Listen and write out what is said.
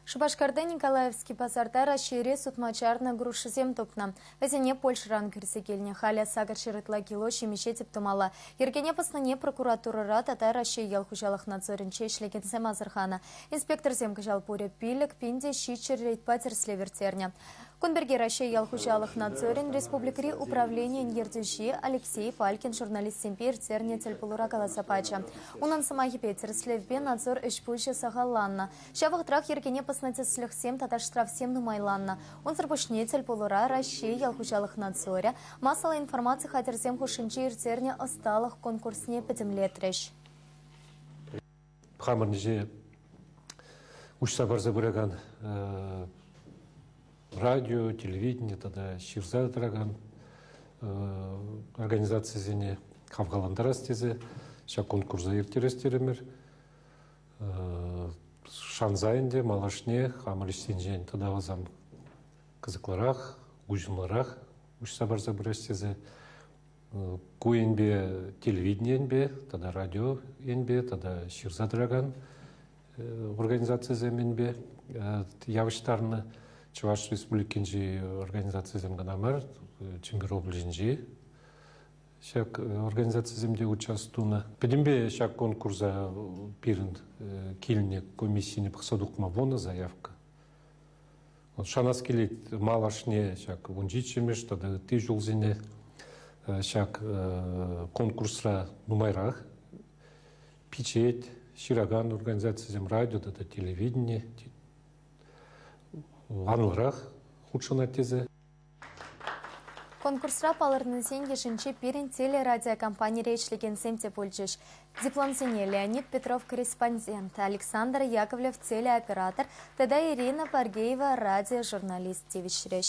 Шупашкарта Николаевски пасарта Раҫҫейре сутма чарнӑ грушӑсем тупнӑ. Вӗсене Польшӑран кӳрсе килнӗ. Халӗ сакӑр ҫӗр ытла кило ҫимӗҫе тӗп тумалла. Йӗркене пӑснине прокуратурӑра тата Раҫҫей ял хуҫалӑх надзорӗнче ӗҫлекенсем асӑрханӑ. Инспекторсем кӑҫал пурӗ пилӗк пин те ҫиччӗ рейдпа тӗрӗслев ирттернӗ. Кун пирки Раҫҫей ял хуҫалӑх надзорӗн республикӑри управленийӗн ертӳҫи Алексей Фалькин журналистсемпе ирттернӗ тӗлпулура каласа пачӗ. Унӑн сӑмахӗпе, тӗрӗслевпе надзор ӗҫ-пуҫӗ сахалланнӑ. Ҫав вӑхӑтрах йӗркене пӑснӑ тӗслӗхсем тата штрафсем нумайланнӑ. Унсӑр пуҫне тӗлпулура Раҫҫей ял хуҫалӑх надзорӗ массӑллӑ информаци хатӗрсем хушшинче ирттернӗ ӑсталӑх конкурсне пӗтӗмлетрӗҫ. хамӑрӑнче уҫса парса пыракан радио, телевидение тата ҫырса тӑракан организацисене хавхалантарас тесе ҫак конкурса ирттерес терӗмӗр. Шанса ӗнтӗ малашне хамӑр ӗҫсенчен тата васам кӑсӑклӑрах, уҫӑмлӑрах уҫса парса пырас тесе ку енпе телевидени енпе тата радио енпе тата ҫырса тӑракан организацисем енпе явӑҫтарнӑ Чӑваш Республикинчи организацисем кӑна мар, Чӗмпӗр облаҫӗнчи ҫак организацисем те участь тунӑ. Пӗтӗмпе ҫак конкурса пирӗн килнӗ комиссине пӑхса тухма пынӑ заявка. шанас килет малашне ҫак вунҫиччӗмӗш тата ытти ҫулсене ҫак конкурсра нумайрах пичет, ҫыракан организацисем радио тата телевидени анлӑрах хутшӑнать тесе Конкурсра палӑрнисен йышӗнче пирӗн телерадиокомпанире ӗҫлекенсем те пулчӗҫ. Дипломсене Леонид Петров корреспондент, Александр Яковлев телеоператор тата Ирина Паргеева радиожурналист тивӗҫрӗҫ.